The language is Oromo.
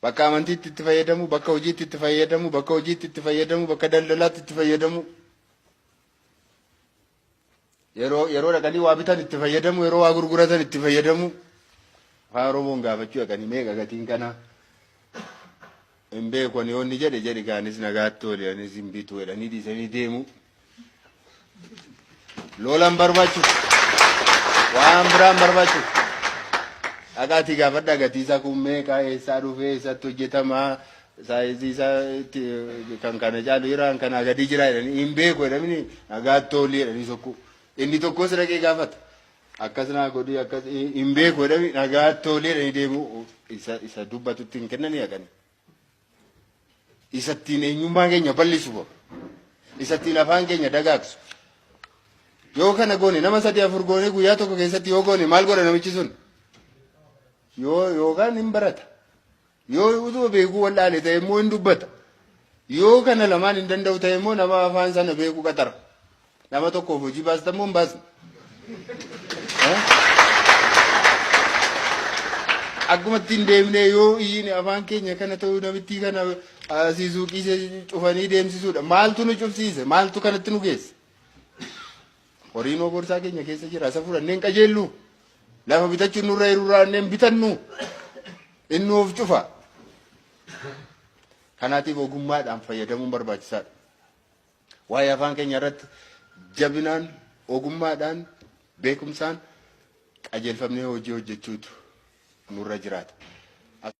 Bakka amantiitti itti fayyadamuu, bakka hojiitti itti fayyadamuu, bakka hojiitti itti fayyadamuu, bakka daldalaatti itti fayyadamuu. Yeroo yeroo dhaqanii waa bitan itti fayyadamuu, yeroo waa gurguratan itti fayyadamuu. Afaan Oromoon gaafachuu dhaqanii meeqa gatiin kanaa? Hin beeku ani yoo inni jedhe jedhi gaanis nagaatti ooli anis hin bitu jedhanii dhiisanii deemuu. Loolan barbaachu. Waan biraan barbaachu. Dhaqaatii gaafadhaa gatii isaa kun meeqa eessaa dhufee eessatti hojjetamaa saayizii isaa itti kan kana caalu jira kan kanaa gadii jira jedhanii hin beeku jedhamini nagaatti oolii jedhanii sokkuu. Inni tokkos dhaqee gaafata. Akkas naa godhii akkas hin beeku jedhanii nagaatti oolii jedhanii deemuu isa isa dubbatutti hin kennanii haqanii. isa ittiin eenyummaa keenya bal'isu bo isa ittiin afaan keenya dagaagsu yoo kana goone nama sadii afur goone guyyaa tokko keessatti yoo goone maal godha namichi sun yoo yookaan hin barata yoo utuma beekuu wal'aale ta'e immoo hin dubbata yoo kana lamaan hin danda'u ta'e immoo nama afaan sana beeku qaxara Nama tokkoof hojii baastan moo hin baasne? Akkuma ittiin deemnee yoo iyyiin afaan keenya kana ta'uu namittii kana asii suuqii ishee cufanii deemsisuudha. Maaltu nu cufsiise? Maaltu kanatti nu geesse? Horiin hoo borsaa keenya keessa jira. Isa fudhannee hin qajeellu. Lafa bitachuun nurra hirurraa hin bitannu. Inni of cufa. Kanaatiif ogummaadhaan fayyadamuun barbaachisaadha. Waa'ee afaan keenya irratti jabinaan, ogummaadhaan, beekumsaan qajeelfamnee hojii hojjechuutu nurra jiraata.